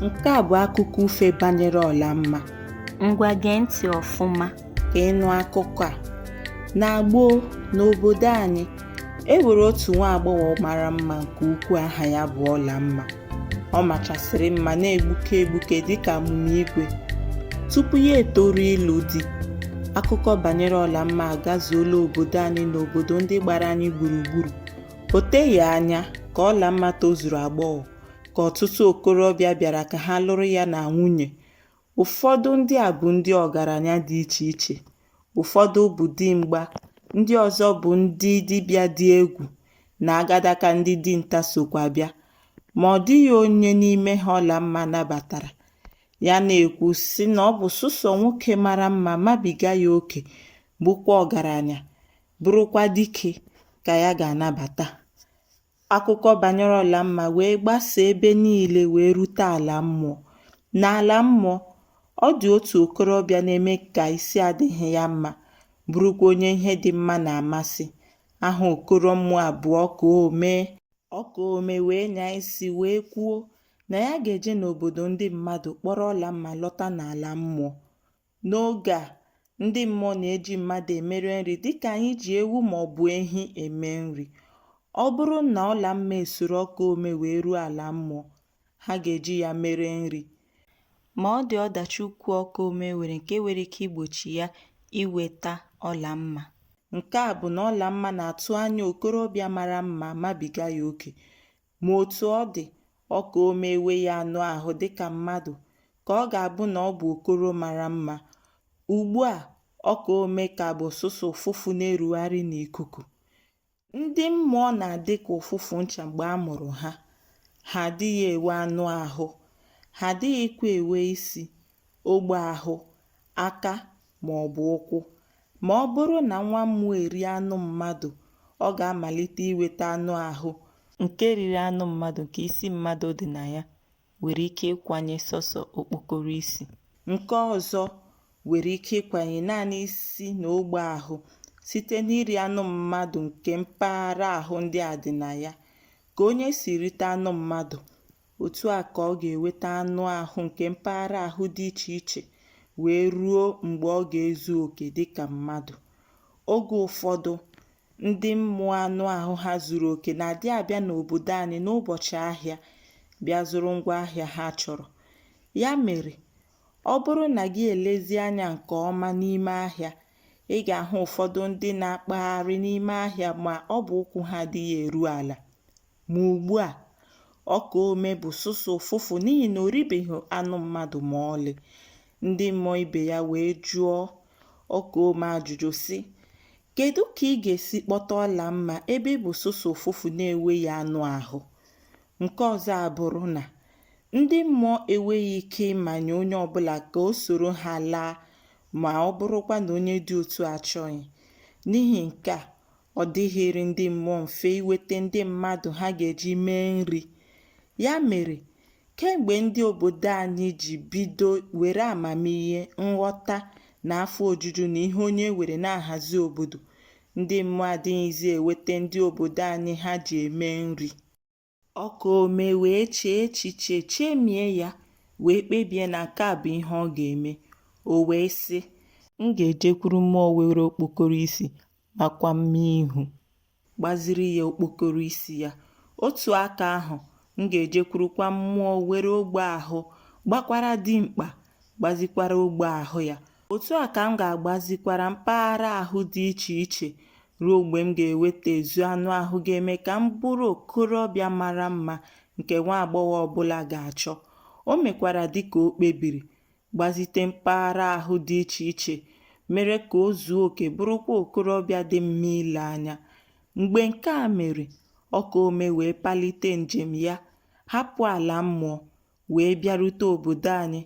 Nke a bụ akụkọ ufe banyere Ọlamma. Ngwa gee ntị ọfụma ka ị nụ akụkọ a. Na gboo, n'obodo anyị, e nwere otu nwa agbọghọ mara mma nke ukwuu aha ya bụ Ọlamma. Ọ machasịrị mma na-egbuke egbuke dịka amụma igwe. Tupu ya etoru ịlụ di, akụkọ banyere Ọlamma agazuola obodo anyị na obodo ndị gbara anyị gburugburu. O teghị anya ka Ọlamma tozuru agbọghọ ka ọtụtụ okorobịa bịara ka ha lụrụ ya na nwunye. Ụfọdụ ndị a bụ ndị ọgaranya dị iche iche, ụfọdụ bụ dimgba, ndị ọzọ bụ ndị dibịa dị egwu na agadaka ndị dinta sokwa bịa. Ma ọ dịghị onye n'ime ha Ọlamma nabatara. Ya na-ekwu sị na ọ bụ sụsọ nwoke mara mma mabiga ya oke bụkwa ọgaranya bụrụkwa dike ka ya ga-anabata. Akụkọ banyere Ọlamma wee gbasaa ebe niile wee rute ala mmụọ. N'ala mmụọ, ọ dị otu okorobịa na-eme ka isi adịghị ya mma, bụrụkwa onye ihe dị mma na-amasị. Aha okoro mmụọ a bụ Ọkaome. Ọkaome wee nyaa isi wee kwuo na ya ga-eje n'obodo ndị mmadụ kpọrọ Ọlamma lọta n'ala mmụọ. N'oge a, ndị mmụọ na-eji mmadụ emere nri dịka anyị ji ewu maọbụ ehi eme nri. Ọ bụrụ na Ọlamma esoro Ọkaome wee ruo ala mmụọ, ha ga-eji ya mere nri. Ma ọ dị ọdachi ukwu Ọkaome nwere nke nwere ike igbochi ya iweta Ọlamma. Nke a bụ na Ọlamma na-atụ anya okorobịa mara mma mabiga ya oke. Ma otu ọ dị, Ọkaome eweghị anụ ahụ dị ka mmadụ, ka ọ ga-abụ na ọ bụ okoro mara mma. Ugbu a, Ọkaome ka bụ sụsọ ụfụfụ na-erugharị n'ikuku. Ndị mmụọ na-adị ka ụfụfụ ncha mgbe a mụrụ ha. Ha adịghị ewe anụ ahụ. Ha adịghịkwa ewe isi. ogbe ahụ, aka ma ọ bụ ụkwụ. Ma ọ bụrụ na nwa mmụọ erie anụ mmadụ, ọ ga-amalite iweta anụ ahụ. Nke riri anụ mmadụ nke isi mmadụ dị na ya nwere ike ịkwanye sọsọ okpokoro isi. Nke ọzọ nwere ike ịkwanye naanị isi na ogbe ahụ site n'iri anụ mmadụ nke mpaghara ahụ ndị a dị na ya. Ka onye si rite anụ mmadụ. Otu a ka ọ ga-eweta anụ ahụ nke mpaghara ahụ dị iche iche wee ruo mgbe ọ ga-ezu oke dị ka mmadụ. Oge ụfọdụ, ndị mmụọ anụ ahụ ha zuru oke na-adị abịa n'obodo anyị n'ụbọchị ahịa bịa zụrụ ngwa ahịa ha chọrọ. Ya mere, ọ bụrụ na gị elezi anya nke ọma n'ime ahịa, ị ga-ahụ ụfọdụ ndị na-akpagharị n'ime ahịa ma ọ bụ ụkwụ ha adịghị eru ala. Ma ugbu a, Ọkaome bụ sọsọ ụfụfụ n'ihi na o ribeghị anụ mmadụ ma ọlị. Ndị mmụọ ibe ya wee jụọ Ọkaome ajụjụ sị, Kedu ka ị ga-esi kpọta Ọlamma ebe ị bụ sọsọ ụfụfụ na-enweghị anụ ahụ? Nke ọzọ abụrụ na ndị mmụọ enweghị ike ịmanye onye ọbụla ka o soro ha laa ma ọ bụrụkwa na onye dị otu a achọghị. N'ihi nke a, Ọ dịghịrị ndị mmụọ mfe iweta ndị mmadụ ha ga-eji mee nri. Ya mere, kemgbe ndị obodo anyị ji bido were amamihe, nghọta, na afọ ojuju na ihe onye nwere na-ahazi obodo, ndị mmụọ adịghịzi eweta ndị obodo anyị ha ji eme nri. Ọkaome wee chee echiche chemie ya wee kpebie na nke a bụ ihe ọ ga-eme. O wee sị, M ga-ejekwuru mmụọ nwere okpokoro isi makwa mma ihu. Gbaziri ya okpokoro isi ya. Otu aka ahụ, m ga-ejekwurukwa mmụọ nwere ogbe ahụ gbakwara dimkpa gbazikwara ogbe ahụ ya Otu a ka m ga-agbazikwara mpaghara ahụ dị iche iche ruo mgbe m ga-eweta ezu anụ ahụ ga-eme ka m bụrụ okorobịa mara mma nke nwa agbọghọ ọbụla ga-achọ. O mekwara dịka o kpebiri, gbazite mpaghara ahụ dị iche iche, mere ka o zuo oke bụrụkwa okorobịa dị mma ile anya. Mgbe nke a mere, Ọkaome wee palite njem ya, hapụ ala mmụọ, wee bịarute obodo anyị.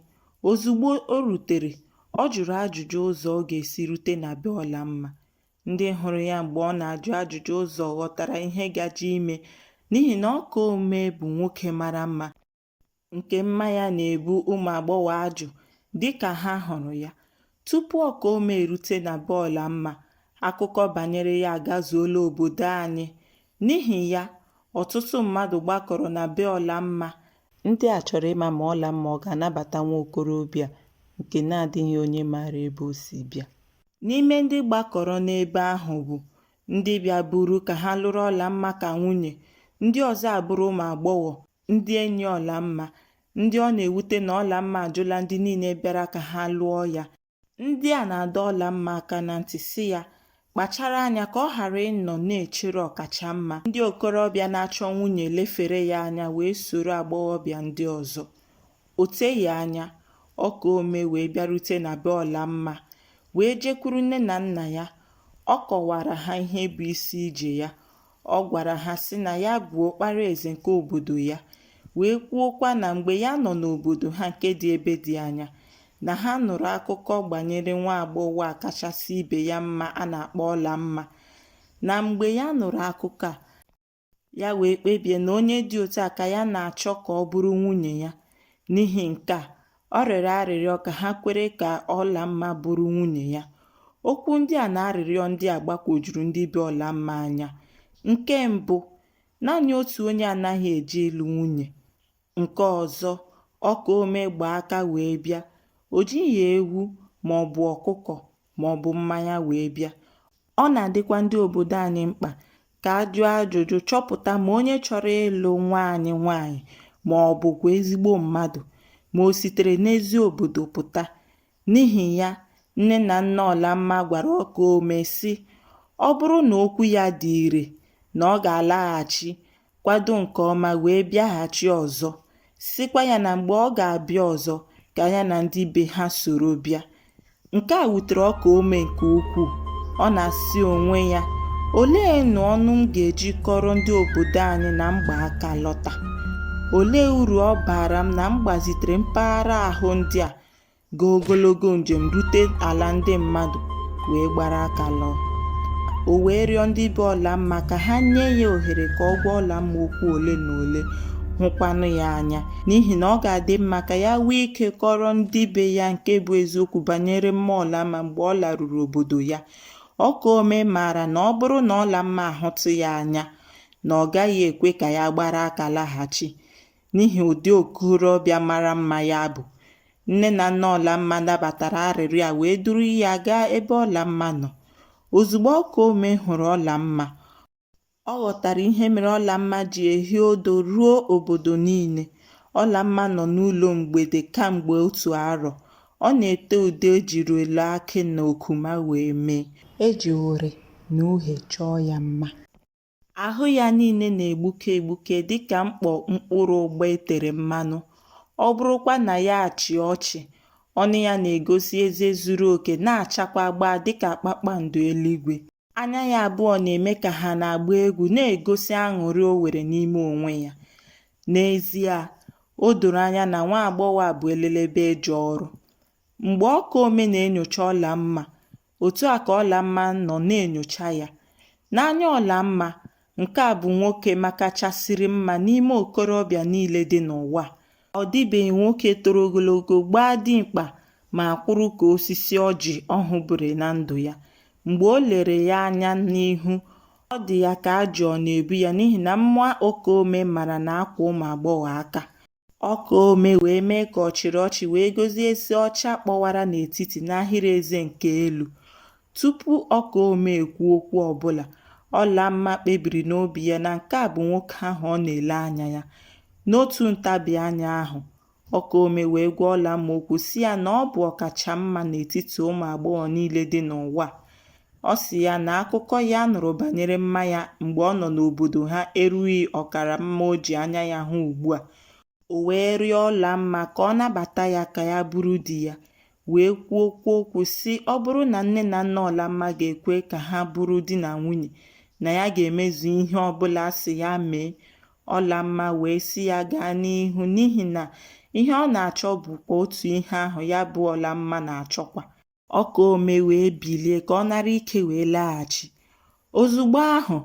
Ozugbo o rutere, ọ jụrụ ajụjụ ụzọ ọ ga-esi rute na be Ọlamma. Ndị hụrụ ya mgbe ọ na-ajụ ajụjụ ụzọ ghọtara ihe gaje ime n'ihi na Ọkaome bụ nwoke mara mma nke mma ya na-ebu ụmụ agbọghọ ajụ dịka ha hụrụ ya. Tupu Ọkaome erute na be Ọlamma, akụkọ banyere ya agazuola obodo anyị. N'ihi ya, ọtụtụ mmadụ gbakọrọ na be Ọlamma. Ndị a chọrọ ịma ma Ọlamma ọ ga-anabata nwa okorobịa nke na-adịghị onye maara ebe o si bịa. N'ime ndị gbakọrọ n'ebe ahụ bụ ndị bịaburu ka ha lụrụ Ọlamma ka nwunye, ndị ọzọ abụrụ ụmụ agbọghọ ndị enyi Ọlamma ndị ọ na-ewute na Ọlamma ajụla ndị niile bịara ka ha lụọ ya ndị a na-adọ Ọlamma aka na ntị sị ya kpachara anya ka ọ ghara ịnọ na-echere ọkacha mma ndị okorobịa na-achọ nwunye lefere ya anya wee soro agbọghọbịa ndị ọzọ o teghị anya Ọkaome wee bịarute na be Ọlamma wee jekwuru nne na nna ya ọ kọwaara ha ihe bụ isi ije ya Ọ gwara ha sị na ya bụ ọkpara eze nke obodo ya, wee kwuokwa na mgbe ya nọ n'obodo ha nke dị ebe dị anya, na ha nụrụ akụkọ gbanyere nwa agbọghọ a kachasị ibe ya mma a na-akpọ Ọlamma na mgbe ya nụrụ akụkọ a, ya wee kpebie na onye dị otu a ka ya na-achọ ka ọ bụrụ nwunye ya. N'ihi nke a, Ọ rịọrọ arịrịọ ka ha kwere ka Ọlamma bụrụ nwunye ya. Okwu ndị a na arịrịọ ndị a gbakwojuru ndị be Ọlamma anya. Nke mbụ, naanị otu onye anaghị eje ịlụ nwunye. Nke ọzọ, ọka ome gba aka wee bịa. O jighị ewu maọbụ ọkụkọ maọbụ mmanya wee bịa. Ọ na-adịkwa ndị obodo anyị mkpa ka a jụọ ajụjụ chọpụta ma onye chọrọ ịlụ nwa anyị nwaanyị ma ọ bụkwa ezigbo mmadụ ma o sitere n'ezi obodo pụta. N'ihi ya, nne na nna Ọlamma gwara ọka ome sị, ọ bụrụ na okwu ya dị ire na ọ ga-alaghachi kwado nke ọma wee bịaghachi ọzọ, sịkwa ya na mgbe ọ ga-abịa ọzọ ka ya na ndị be ha soro bịa. Nke a wutere ọka ome nke ukwuu. Ọ na-asị onwe ya, olee nụ ọnụ m ga-eji kọrọ ndị obodo anyị na m gba aka lọta? Olee uru ọ baara m na m gbazitere mpaghara ahụ ndị a gaa ogologo njem rute ala ndị mmadụ wee gbara aka lọọ o wee rịọ ndị be ọlamma ka ha nye ya ohere ka ọ gwa ọlamma okwu ole na ole hụkwanụ ya anya n'ihi na ọ ga-adị mma ka ya nwee ike kọrọ ndị be ya nke bụ eziokwu banyere mma ọlamma mgbe ọ laruru obodo ya ọka ome maara na ọ bụrụ na ọlamma ahụtụ ya anya na ọ gaghị ekwe ka ya gbara aka laghachi N'ihi ụdị okorobịa mara mma ya bụ, nne na nna Ọlamma nabatara arịrịọ a wee duru ya gaa ebe Ọlamma nọ. Ozugbo ọka ome hụrụ Ọlamma, ọ ghọtara ihe mere Ọlamma ji ehi ụdụ ruo obodo niile. Ọlamma nọ n'ụlọ mgbede kamgbe otu arọ. Ọ na-ete ude e jiri elu akị na okuma wee mee. E ji uri na uhie chọọ ya mma. Ahụ ya niile na-egbuke egbuke dị ka mkpọ mkpụrụ ụgba e tere mmanụ. Ọ bụrụkwa na ya achị ọchị, ọnụ ya na-egosi eze zuru oke na-achakwa gbaa dị ka kpakpando eluigwe. Anya ya abụọ na-eme ka ha na-agba egwu, na-egosi aṅụrị o nwere n'ime onwe ya. N'ezie, o doro anya na nwa agbọghọ a bụ elelebe eje ọrụ. Mgbe Ọkaome na-enyocha Ọlamma, otu a ka Ọlamma nọ na-enyocha ya. N'anya Ọlamma, nke a bụ nwoke makachasịrị mma n'ime okorobịa niile dị n'ụwa. Ọ dịbeghị nwoke toro ogologo, gbaa dimkpa ma kwụrụ ka osisi ọjị ọ hụbụrụ na ndụ ya. Mgbe o lere ya anya n'ihu, ọ dị ya ka ajụ ọ na-ebu ya n'ihi na mma Ọkaome mara na-akwa ụmụ agbọghọ aka. Ọkaome wee mee ka ọ chịrị ọchị wee gosi eze ọcha kpọwara n'etiti n'ahịrị eze nke elu. Tupu Ọkaome ekwu okwu ọbụla, Ọlamma kpebiri n'obi ya na nke a bụ nwoke ahụ ọ na-ele anya ya. N'otu ntabi anya ahụ, Ọkaome wee gwa Ọlamma okwu sị ya na ọ bụ ọkacha mma n'etiti ụmụ agbọghọ niile dị n'ụwa. Ọ sị ya na akụkọ ya nụrụ banyere mma ya mgbe ọ nọ n'obodo ha erughị ọkara mma o ji anya ya hụ ugbu a. O wee rịọ Ọlamma ka ọ nabata ya ka ya bụrụ di ya, wee kwuokwuo okwu sị ọ bụrụ na nne na nna Ọlamma ga-ekwe ka ha bụrụ di na nwunye, na ya ga-emezu ihe ọ bụla a sị ya mee. Ọlamma wee sị ya gaa n'ihu n'ihi na ihe ọ na-achọ bụkwa otu ihe ahụ ya bụ Ọlamma na-achọkwa. ọkaome wee bilie ka ọ nara ike wee laghachi ozugbo ahụ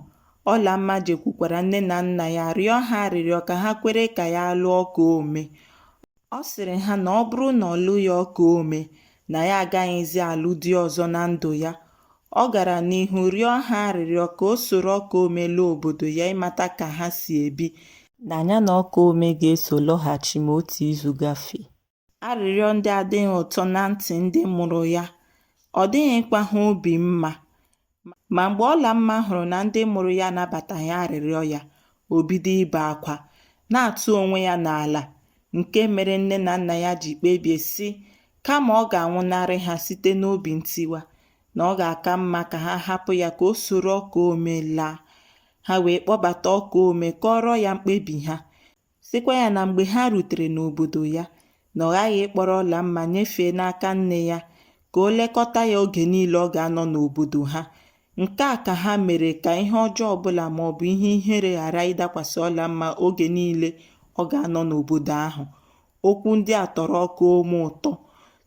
ọlamma jekwukwara nne na nna ya rịọ ha arịrịọ ka ha kwere ka ya lụọ ọkaome ọ sịrị ha na ọ bụrụ na ọ lụghị ọkaome na ya agaghịzi alụ di ọzọ na ndụ ya ọ gara n'ihu rịọ ha arịrịọ ka o soro ọkaome laa obodo ya ịmata ka ha si ebi na ya na ọkaome ga-eso lọghachi ma otu izu gafee Arịrịọ ndị a adịghị ụtọ na ntị ndị mụrụ ya, ọ dịghịkwa ha obi mma. Ma mgbe Ọlamma hụrụ na ndị mụrụ ya anabataghị arịrịọ ya, o bido ibe akwa, na-atụ onwe ya n'ala, nke mere nne na nna ya ji kpebie sị kama ọ ga-anwụnarị ha site n'obi ntiwa, na ọ ga-aka mma ka ha hapụ ya ka o soro Ọkaome laa. Ha wee kpọbata Ọkaome kọọrọ ya mkpebi ha. sịkwa ya na mgbe ha rutere n'obodo ya na ọ ghaghị ịkpọrọ ọlamma nyefee n'aka nne ya ka o lekọta ya oge niile ọ ga-anọ n'obodo ha nke a ka ha mere ka ihe ọjọọ ọbụla ma ọ bụ ihe ihere ghara ịdakwasị ọlamma oge niile ọ ga-anọ n'obodo ahụ okwu ndị a tọrọ ọkaome ụtọ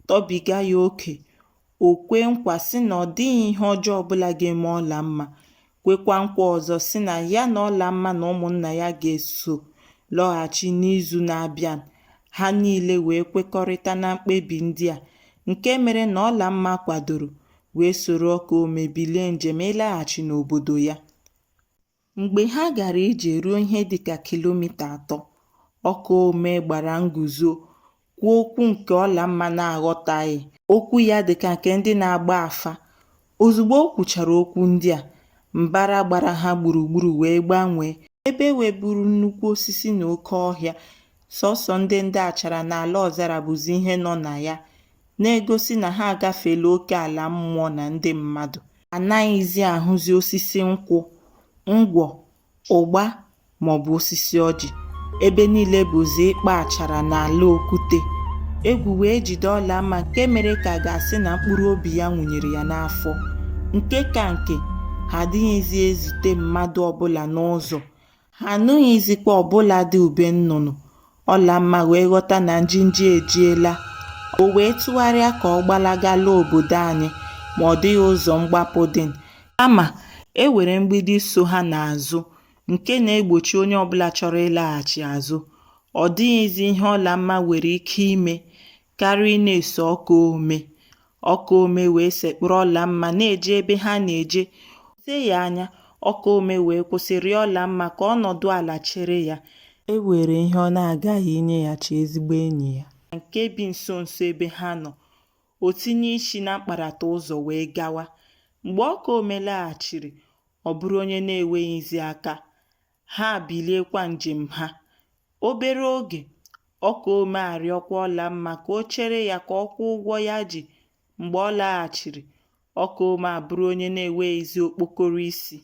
tọbiga ya oke O kwee nkwa sị na ọ dịghị ihe ọjọọ ọbụla ga-eme Ọlamma, kwekwa nkwa ọzọ sị na ya na Ọlamma na ụmụnna ya ga-eso lọghachi n'izu na-abịa. Ha niile wee kwekọrịta na mkpebi ndị a, nke mere na Ọlamma kwadoro wee soro Ọkaome bilie njem ịlaghachi n'obodo ya. Mgbe ha gara ije ruo ihe dị ka kilomita atọ, Ọkaome gbara nguzo kwuo okwu nke Ọlamma na-aghọtaghị. Okwu ya dị ka nke ndị na-agba afa. Ozugbo o kwuchara okwu ndị a, mbara gbara ha gburugburu wee gbanwee. Ebe weburu nnukwu osisi na oke ọhịa, sọsọ ndị ndị achara na ala ọzara bụzi ihe nọ na ya. na-egosi na ha agafeela oke ala mmụọ na ndị mmadụ. A naghịzi ahụzi osisi nkwụ, ngwọ, ụgba maọbụ osisi ọjị. Ebe niile bụzi ikpa achara na ala okwute. Egwu wee jide Ọlamma nke mere ka a ga-asị na mkpụrụ obi ya nwụnyere ya n'afọ. Nke ka nke, ha adịghịzi ezute mmadụ ọbụla n'ụzọ. Ha anụghịzikwa ọbụladị ube nnụnụ Ọlamma wee ghọta na njinji ejiela. O wee tụgharịa ka ọ gbalaga laa obodo anyị, ma ọ dịghị ụzọ mgbapụ dị. Kama, e were mgbidi so ha n'azụ nke na-egbochi onye ọbụla chọrọ ịlaghachi azụ. Ọ dịghịzi ihe Ọlamma nwere ike ime karịa ịna-eso Ọkaome Ọkaome wee sekpụrụ Ọlamma na-eje ebe ha na-eje o teghị anya Ọkaome wee kwụsị rịọ Ọlamma ka ọ nọdụ ala chere ya e were ihe ọ na-aga inyeghachi ezigbo enyi ya nke bi nso nso ebe ha nọ o tinye isi na mkparata ụzọ wee gawa mgbe Ọkaome laghachiri ọ bụrụ onye na-enweghịzi aka ha biliekwa njem ha. Obere oge, Ọkaome arịọkwa Ọlamma ka o chere ya ka ọ kwụọ ụgwọ ya ji. Mgbe ọ laghachiri, Ọkaome abụrụ onye na-enweghịzi okpokoro isi.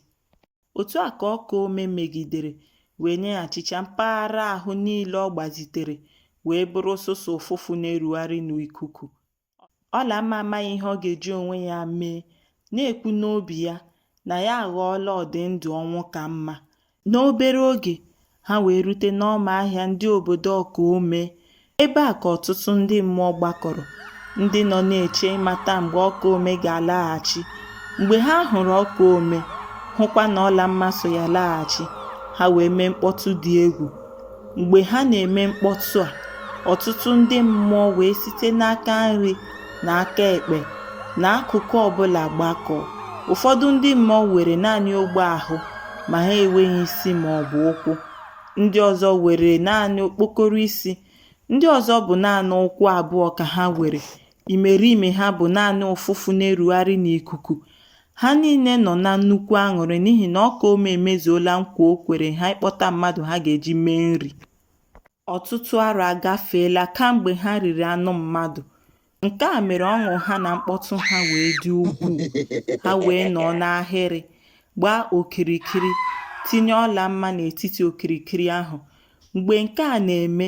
Otu a ka Ọkaome megidere wee nyeghachicha mpaghara ahụ niile ọ gbazitere wee bụrụ sọsọ ụfụfụ na-erugharị n'ikuku Ọlamma amaghị ihe ọ ga-eji onwe ya mee, na-ekwu n'obi ya na ya aghọọla ọdị ndụ ọnwụ ka mma. N'obere oge, ha wee rute n'ọma ahịa ndị obodo Ọkaome. Ebe a ka ọtụtụ ndị mmụọ gbakọrọ, ndị nọ na-eche ịmata mgbe Ọkaome ga-alaghachi. Mgbe ha hụrụ Ọkaome, hụkwa na Ọlamma so ya laghachi, ha wee mee mkpọtụ dị egwu. Mgbe ha na-eme mkpọtụ a, ọtụtụ ndị mmụọ wee site n'aka nri na aka ekpe na akụkụ ọbụla gbakọọ. Ụfọdụ ndị mmụọ were naanị ogbe ahụ ma ha enweghị isi ma ọ bụ ụkwụ. Ndị ọzọ were naanị okpokoro isi. Ndị ọzọ bụ naanị ụkwụ abụọ ka ha were Imerime ha bụ naanị ụfụfụ na-erugharị n'ikuku. Ha niile nọ na nnukwu aṅụrị n'ihi na Ọkaome emezuola nkwa o kwere ha ịkpọta mmadụ ha ga-eji mee nri. Ọtụtụ arọ agafeela kamgbe ha riri anụ mmadụ. Nke a mere ọṅụ ha na mkpọtụ ha wee dị ukwuu. Ha wee nọọ n'ahịrị, gbaa okirikiri, tinye Ọlamma n'etiti okirikiri ahụ. Mgbe nke a na-eme,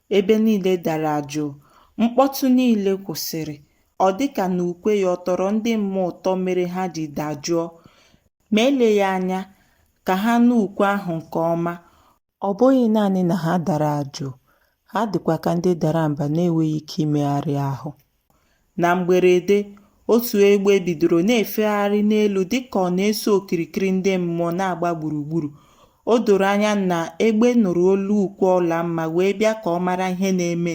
Ebe niile dara jụụ, mkpọtụ niile kwụsịrị. Ọ dị ka na ukwe ya ọ tọrọ ndị mmụọ ụtọ mere ha ji dajụọ. Ma eleghị anya, ka ha nụ ukwe ahụ nke ọma. Ọ bụghị naanị na ha dara jụụ, ha dịkwa ka ndị dara mba na-enweghị ike imegharị ahụ. Na mgberede, otu egbe bidoro na-efegharị n'elu dịka ọ na-eso okirikiri ndị mmụọ na-agba gburugburu. O doro anya na egbe nụrụ olu ukwe Ọlamma wee bịa ka ọ mara ihe na-eme.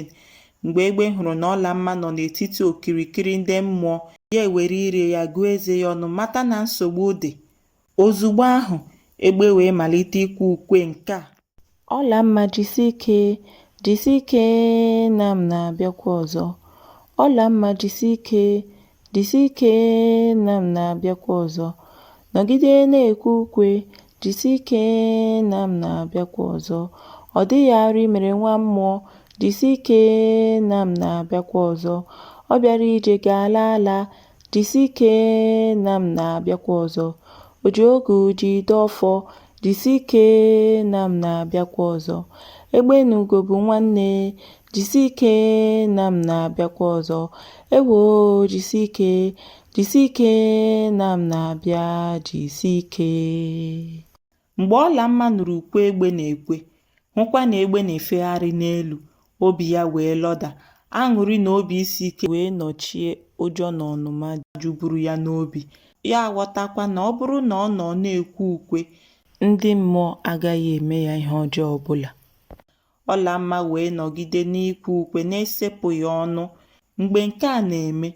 Mgbe egbe hụrụ na Ọlamma nọ n'etiti okirikiri ndị mmụọ, ya ewere ire ya gụọ eze ya ọnụ mata na nsogbu dị. Ozugbo ahụ, egbe wee malite ikwe ukwe nke a. Ọlamma jisi ike, jisi ike na m na-abịakwa ọzọ. Ọlamma jisi ike, jisi ike na m na-abịakwa ọzọ. Nọgide na-ekwe ukwe, jisi ike na m na-abịakwa ọzọ. Ọ dịghị arụ i mere nwa mmụọ, jisi ike na m na-abịakwa ọzọ. Ọ bịara ije ga-ala ala, Jisi ike na m na-abịakwa ọzọ. O ji ogu jide ọfọ. Jisi ike na m na-abịakwa ọzọ. Egbe na ugo bụ nwanne. Jisi ike na m na-abịakwa ọzọ. Ewo jisi ike. Jisi ike na m na-abịa. Jisi ike. Mgbe Ọlamma nụrụ ukwe egbe na-ekwe, hụkwa na egbe na-efegharị n'elu, obi ya wee lọda. Aṅụrị na obi isi ike wee nọchie ụjọ na ọnụma juburu ya n'obi. Ya aghọtakwa na ọ bụrụ na ọ nọ na-ekwe ukwe, ndị mmụọ agaghị eme ya ihe ọjọọ ọ bụla. Ọlamma wee nọgide n'ikwe ukwe na-esepụghị ọnụ. Mgbe nke a na-eme,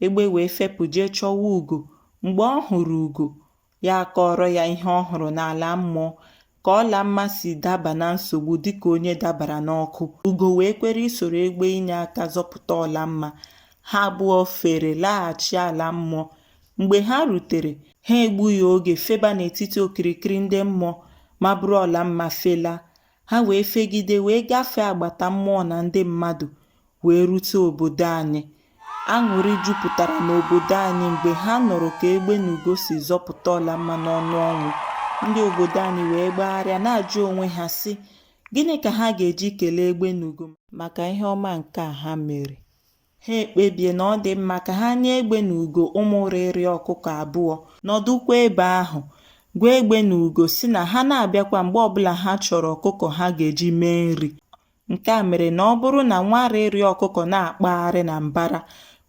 egbe wee fepụ jee chọwa ugo. Mgbe ọ hụrụ ugo, ya akọọrọ ya ihe ọ hụrụ n'ala mmụọ ka Ọlamma si daba na nsogbu dịka onye dabara n'ọkụ Ugo wee kwere isoro egbe inye aka zọpụta Ọlamma ha abụọ fere laghachi ala mmụọ mgbe ha rutere ha egbughị oge feba n'etiti okirikiri ndị mmụọ ma buru Ọlamma felaa ha wee fegide wee gafee agbata mmụọ na ndị mmadụ wee rute obodo anyị. Aṅụrị jupụtara n'obodo anyị mgbe ha nụrụ ka egbe na ugo si zọpụta Ọlamma n'ọnụ ọnwụ. Ndị obodo anyị wee gbagharịa na-ajụ onwe ha sị, Gịnị ka ha ga-eji kelee egbe na ugo maka ihe ọma nke a ha mere? Ha ekpebie na ọ dị mma ka ha nye egbe na ugo ụmụ rịrị ọkụkọ abụọ, nọdụkwa ebe ahụ, gwa egbe na ugo sị na ha na-abịakwa mgbe ọbụla ha chọrọ ọkụkọ ha ga-eji mee nri. Nke a mere na ọ bụrụ na nwa rịrị ọkụkọ na-akpagharị na mbara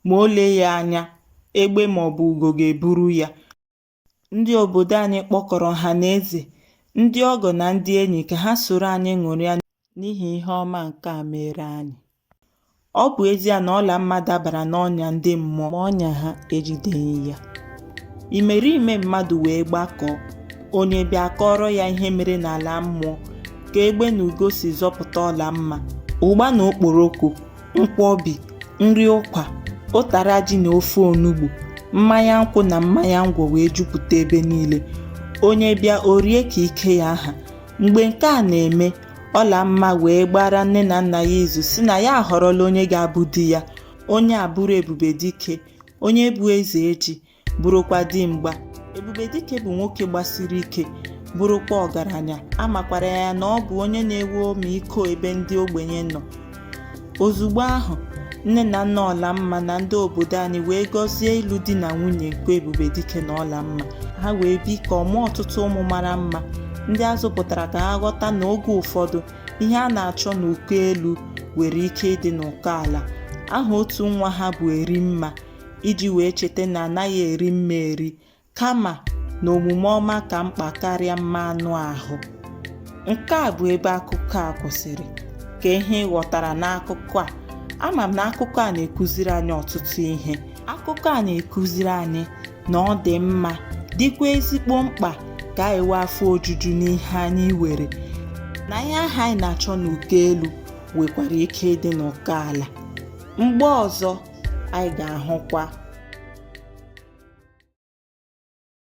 ma o lee ya anya, egbe ma ọ bụ ugo ga-eburu ya. Ndị obodo anyị kpọkọrọ ọha na eze, ndị ọgọ na ndị enyi ka ha soro anyị ṅụrịa n'ihi ihe ọma nke a meere anyị. Ọ bụ ezie na Ọlamma dabara n'ọnya ndị mmụọ ma ọnya ha ejideghị ya. Imerime mmadụ wee gbakọọ, onye bịa a kọọrọ ya ihe mere n'ala mmụọ ka egbe na ugo si zọpụta Ọlamma. Ụgba na okporoko, nkwọbi, nri ụkwa, ụtara ji na ofe onugbu, mmanya nkwụ na mmanya ngwọ wee jupụta ebe niile. Onye bịa o rie ka ike ya ha. Mgbe nke a na-eme, Ọlamma wee gbaara nne na nna ya izu sị na ya ahọrọla onye ga-abụ di ya, onye a bụrụ Ebubedike, onye bụ eze ji, bụrụkwa dimgba. Ebubedike bụ nwoke gbasiri ike, bụrụkwa ọgaranya, a makwara ya na ọ bụ onye na-enwe ọmịiko ebe ndị ogbenye nọ. Ozugbo ahụ, nne na nna Ọlamma na ndị obodo anyị wee gọzie ịlụ di na nwunye nke Ebubedike na Ọlamma. Ha wee bikọọ mụọ ọtụtụ ụmụ mara mma, ndị a zụpụtara ka ha ghọta na oge ụfọdụ, ihe a na-achọ n'ụkọ elu nwere ike ịdị n'ụkọ ala. Aha otu nwa ha bụ Erimma, iji wee cheta na anaghị eri mma eri. kama na omume ọma ka mkpa karịa mma anụ ahụ nke a bụ ebe akụkọ a kwụsịrị ka ihe ị ghọtara n'akụkọ a ama m na akụkọ a na-ekụziri anyị ọtụtụ ihe akụkọ a na-ekụziri anyị na ọ dị mma dịkwa ezigbo mkpa ka anyị nwee afọ ojuju n'ihe anyị nwere na ihe ahụ anyị na-achọ n'ụkọ elu nwekwara ike ịdị n'ụkọ ala mgbe ọzọ anyị ga-ahụkwa